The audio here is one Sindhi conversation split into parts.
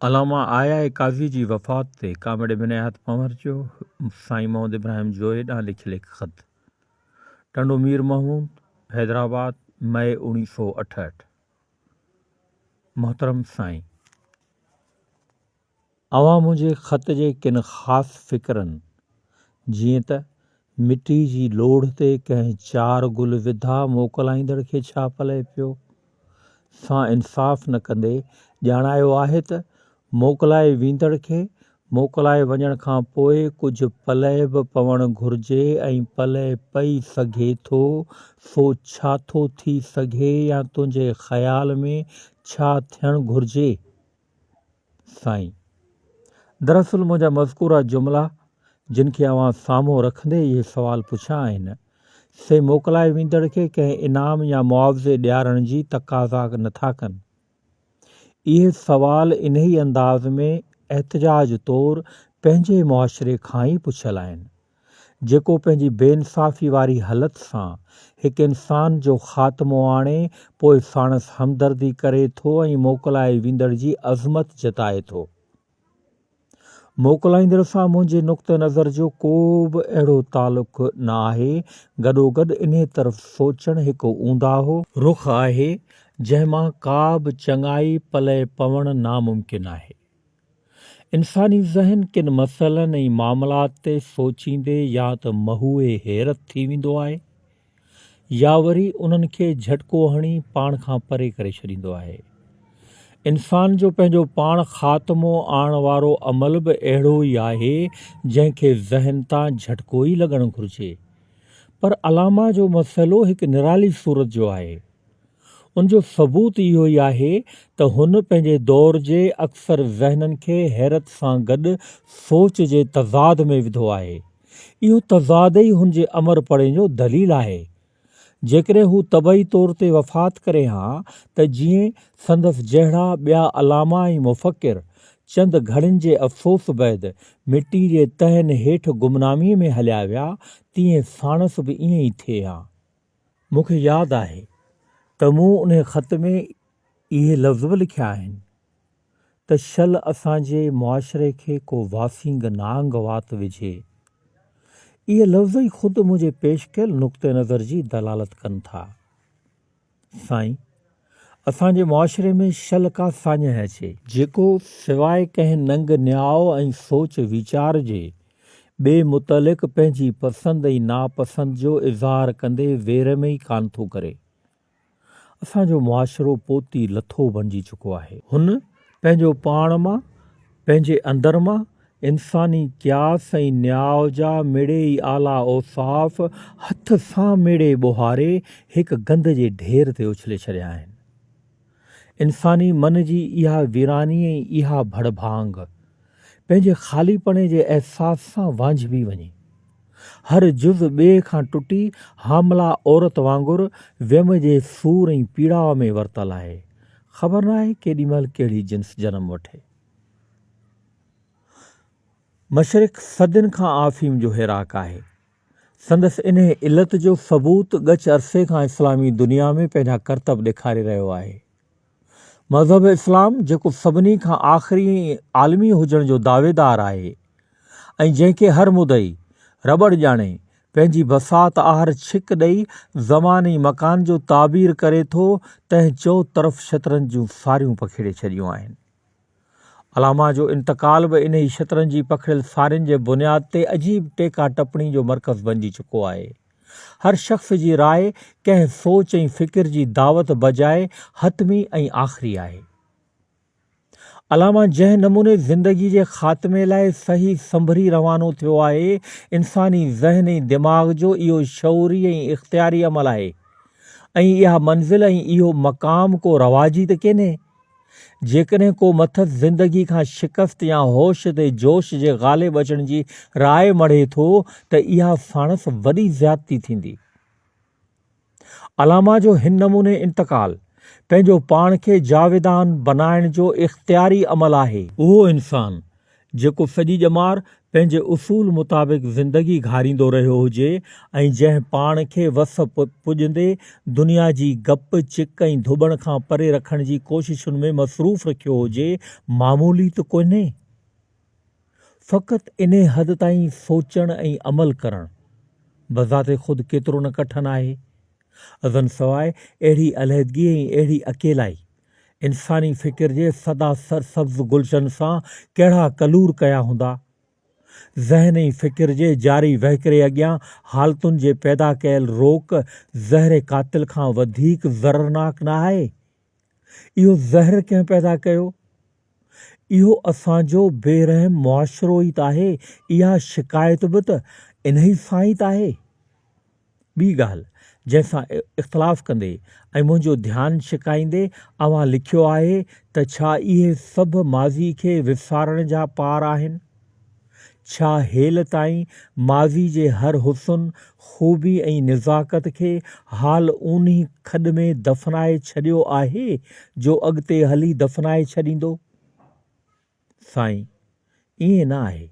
علامه آء آء قاضي جي وفات تي ڪامريڊ بنياحت پنهور جو سائين محمد ابراهيم جويي ڏانهن لکيل هڪ خط. ٽنڊو مير محمود، حيدرآباد، مئي اوڻيهه سؤ اٺهٺ. محترم سائين! اوهان منهنجي خط جي ڪن خاص فقرن جيئن ته مٽي جي لوڙهه تي ڪنهن چار گل وڌا موڪلائيندڙ کي ڇا پلئه پيو؟ سان انصاف نه ڪندي ڄاڻايو آهي ته موڪلائي ويندڙ کي موڪلائي وڃڻ کان پوء ڪجهه پلئه به پوڻ گهرجي ۽ پلئه پئي سگهي ٿو سو ڇا ٿو ٿي سگهي يا تنهنجي خيال ۾ ڇا ٿيڻ گهرجي؟ سائين! دراصل منهنجا مذڪوره جملا جن کي اوهان سامهون رکندي اهي سوال پڇيا آهن، سي موڪلائي ويندڙ کي ڪنهن انعام يا معاوضي ڏيارڻ جي تقاضا نه ٿا ڪن. اهي سوال انهي انداز ۾ احتجاج طور پنهنجي معاشري کان ئي پڇيل آهن. جيڪو پنهنجي بي انصافي واري هلت سان هڪ انسان جو خاتمو آڻي پوء ساڻس همدردي ڪري ٿو ۽ موڪلائي ويندڙ جي عظمت جتائي ٿو. موڪلائيندڙ سان منهنجي نقطه نظر جو ڪو به اهڙو تعلق نه آهي، گڏوگڏ انهي طرف سوچڻ هڪ اونداهو، رخ آهي، جنهن مان ڪا به چڱائي پلئه پوڻ ناممڪن آهي. انساني ذهن ڪن مسئلن ۽ معاملات تي سوچيندي يا ته مهوئي حيرت ٿي ويندو آهي يا وري انهن کي جهٽڪو هڻي پاڻ کان پري ڪري ڇڏيندو آهي. انسان جو پنهنجو پاڻ خاتمو آڻڻ وارو عمل به اهڙو ئي آهي جنهن کي ذهن تان جهٽڪو ئي لڳڻ گهرجي. پر علامه جو مسئلو هڪ نرالي صورت جو آهي. ان جو ثبوت اهو ئي آهي ته هن پنهنجي دور جي اڪثر ذهنن کي حيرت سان گڏ سوچ جي تضاد ۾ وڌو آهي. اهو تضاد ئي هن جي امر پڙهڻ جو دليل آهي. جيڪڏهن هو طبعي طور تي وفات ڪري ها ته جيئن سندس جهڙا ٻيا علامه ۽ مفڪر چند گهڙين جي افسوس بعد مٽي جي تهن هيٺ گمناميء ۾ هليا ويا تيئن ساڻس به ائين ئي ٿئي ها. مون کي ياد آهي ته مون انهي خط ۾ اهي لفظ به لکيا آهن ته شل اسان جي معاشري کي ڪو واسينگ نانگ وات وجهي. اهي لفظ ئي خود منهنجي پيش ڪيل نقطه نظر جي دلالت ڪن ٿا. سائين! اسان جي معاشري ۾ شل ڪا ساڃهه اچي. جيڪو سواء ڪنهن ننگ نياء ۽ سوچ ويچار جي، ٻئي متعلق پنهنجي پسند ۽ ناپسند جو اظهار ڪندي وير ۾ ئي ڪانه ٿو ڪري. اسان جو معاشرو پوتي لٿو بڻجي چڪو آهي. هن پنهنجو پاڻ مان، پنهنجي اندر مان، انساني قياس ۽ نياء جا مڙئي ئي اعليٰ اوصاف هٿ سان مڙئي ٻوهاري هڪ گند جي ڍير تي اڇلي ڇڏيا آهن. انساني من جي اها ويراني ۽ اها ڀڙ ڀاڱ، پنهنجي خاليپڻي جي احساس سان وانجهبي وڃي، هر جز ٻئي کان ٽٽي، حامله عورت وانگر ويم جي سور ۽ پيڙاء ۾ ورتل آهي. خبر ناهي ڪيڏي مهل ڪهڙي جنس جنم وٺي. مشرق صدين کان آفيم جو هيراڪ آهي. سندس انهي علت جو ثبوت ڳچ عرصي کان اسلامي دنيا ۾ پنهنجا ڪرتب ڏيکاري رهيو آهي. مذهب اسلام جيڪو سڀني کان آخري عالمي هجڻ جو دعويدار آهي ۽ جنهن کي هر مدعي رٻڙ ڄاڻي پنهنجي بساط آهر ڇڪ ڏئي زمان ۽ مڪان جو تعبير ڪري ٿو تنهن چئو طرف شطرنج جون ساريون پکيڙي ڇڏيون آهن. علامه جو انتقال به انهي شطرنج جي پکڙيل سارين جي بنياد تي عجيب ٽيڪا ٽپڻي جو مرڪز بنجي چڪو آهي. هر شخص جي راء ڪنهن سوچ ۽ فڪر جي دعوت بجاء حتمي ۽ آخري آهي. علامه جنهن نموني زندگي جي خاتمي لاء صحيح سنڀري روانو ٿيو آهي، انساني ذهن ۽ دماغ جو اهو شعوري ۽ اختياري عمل آهي ۽ اها منزل ۽ اهو مقام ڪو رواجي ته ڪينهي. جيڪڏهن ڪو مٿس زندگي کان شڪست يا هوش تي جوش جي غالب اچڻ جي راء مڙهي ٿو ته اها ساڻس وڏي زيادتي ٿيندي. علامه جو هن نموني انتقال، پنهنجو پاڻ کي جاويدان بنائڻ جو اختياري عمل آهي. اهو انسان، جيڪو سڄي ڄمار پنهنجي اصول مطابق زندگي گهاريندو رهيو هجي ۽ جنهن پاڻ کي وس پڄندي دنيا جي گپ، چڪ ۽ ڌٻڻ کان پري رکڻ جي ڪوششن ۾ مصروف رکيو هجي، معمولي ته ڪونهي. فقط انهي حد تائين سوچڻ ۽ عمل ڪرڻ بذات خود ڪيترو نه ڪٺن آهي. ازن سواء اهڙي علحدگي ۽ اهڙي اڪيلائي، انساني فڪر جي سدا سرسبز گلشن سان ڪهڙا ڪلور ڪيا هوندا. ذهن ۽ فڪر جي جاري وهڪري اڳيان حالتن جي پيدا ڪيل روڪ زهر قاتل کان وڌيڪ ضررناڪ نه آهي. اهو زهر ڪنهن پيدا ڪيو؟ اهو اسان جو بي رحم معاشرو ئي ته آهي، اها شڪايت به ته انهي سان ئي ته آهي. ٻي ڳالهه جنهن سان اختلاف ڪندي ۽ منهنجو ڌيان ڇڪائيندي اوهان لکيو آهي ته ڇا اهي سڀ ماضي کي وسارڻ جا پار آهن؟ ڇا هيل تائين ماضي جي هر حسن، خوبي ۽ نزاڪت کي حال اونهي کڏ ۾ دفنائي ڇڏيو آهي جو اڳتي هلي دفنائي ڇڏيندو؟ سائين! ائين نه آهي.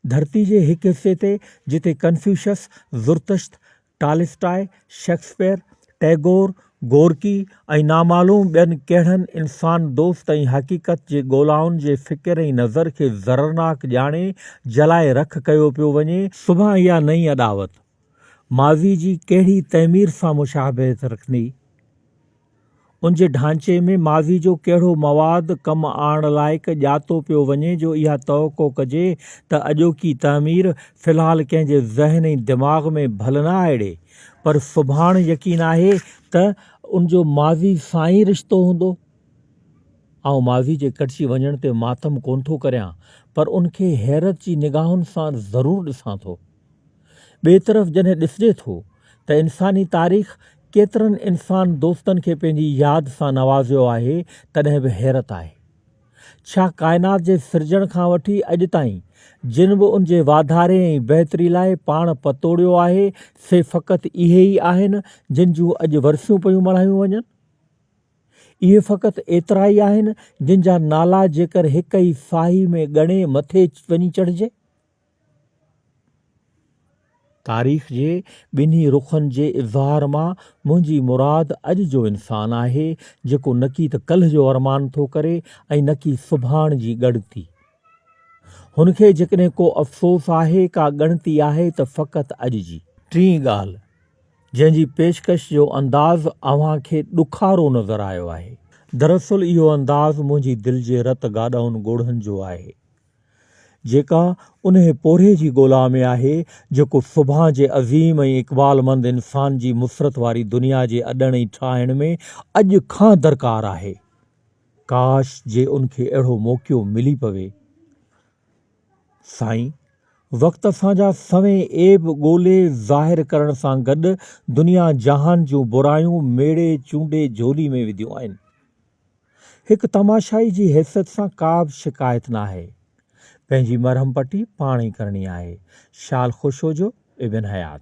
ڌرتي جي هڪ حصي تي جتي ڪنفيوشس، زرتشت، ٽالسٽاء، شيڪسپيئر، ٽئگور، گورڪي ۽ نامعلوم ٻين ڪهڙن انسان دوست ۽ حقيقت جي ڳولائن جي فڪر ۽ نظر کي ضررناڪ ڄاڻي جلائي رک ڪيو پيو وڃي، صبح اها نئين اڏاوت، ماضي جي ڪهڙي تعمير سان مشابهت رکندي؟ ان جي ڍانچي ۾ ماضي جو ڪهڙو مواد ڪم آڻڻ لائق ڄاتو پيو وڃي جو اها توقع ڪجي ته اڄوڪي تعمير في الحال ڪنهن جي ذهن ۽ دماغ ۾ ڀل نه آئڙي پر سڀاڻ يقين آهي ته ان جو ماضي سان ئي رشتو هوندو. آئون ماضي جي ڪٽجي وڃڻ تي ماتم ڪونه ٿو ڪريان پر ان کي حيرت جي نگاهن سان ضرور ڏسان ٿو. ٻئي طرف جڏهن ڏسجي ٿو ته انساني تاريخ ڪيترن انسان دوستن کي پنهنجي ياد سان نوازيو آهي تڏهن به حيرت آهي. ڇا ڪائنات جي سرجڻ کان وٺي اڄ تائين جن به ان جي واڌاري ۽ بهتري لاء پاڻ پتوڙيو آهي سي فقط اهي ئي آهن جن جون اڄ ورسيون پيون ملهايون وڃن؟ اهي فقط ايترا ئي آهن جن جا نالا جيڪر هڪ ئي ساهي ۾ ڳڻي مٿي وڃي چڙهجي؟ تاريخ جي ٻنهي رخن جي اظهار مان منهنجي مراد اڄ جو انسان آهي، جيڪو نڪي ته ڪلهه جو ارمان ٿو ڪري ۽ نڪي سڀاڻ جي ڳڻتي. هن کي جيڪڏهن ڪو افسوس آهي، ڪا ڳڻتي آهي ته فقط اڄ جي. ٽين ڳالهه، جنهن جي پيشڪش جو انداز اوهان کي ڏکارو نظر آيو آهي، دراصل اهو انداز منهنجي دل جي رت گاڏهن ڳوڙهن جو آهي. جيڪا انهي پورهيي جي ڳولا ۾ آهي، جيڪو سڀان جي عظيم ۽ اقبالمند انسان جي مسرت واري دنيا جي اڏڻ ۽ ٺاهڻ ۾ اڄ کان درڪار آهي. ڪاش جي ان کي اهڙو موقعو ملي پوي. سائين! وقت اسان جا سوين عيب ڳولي ظاهر ڪرڻ سان گڏ دنيا جهان جون برايون ميڙي چونڊي جهولي ۾ وڌيون آهن. هڪ تماشائي جي حيثيت سان ڪابه شڪايت ناهي. پنهنجي مرهم پٽي پاڻ ئي ڪرڻي آهي. شال خوش هجو ابن حيات.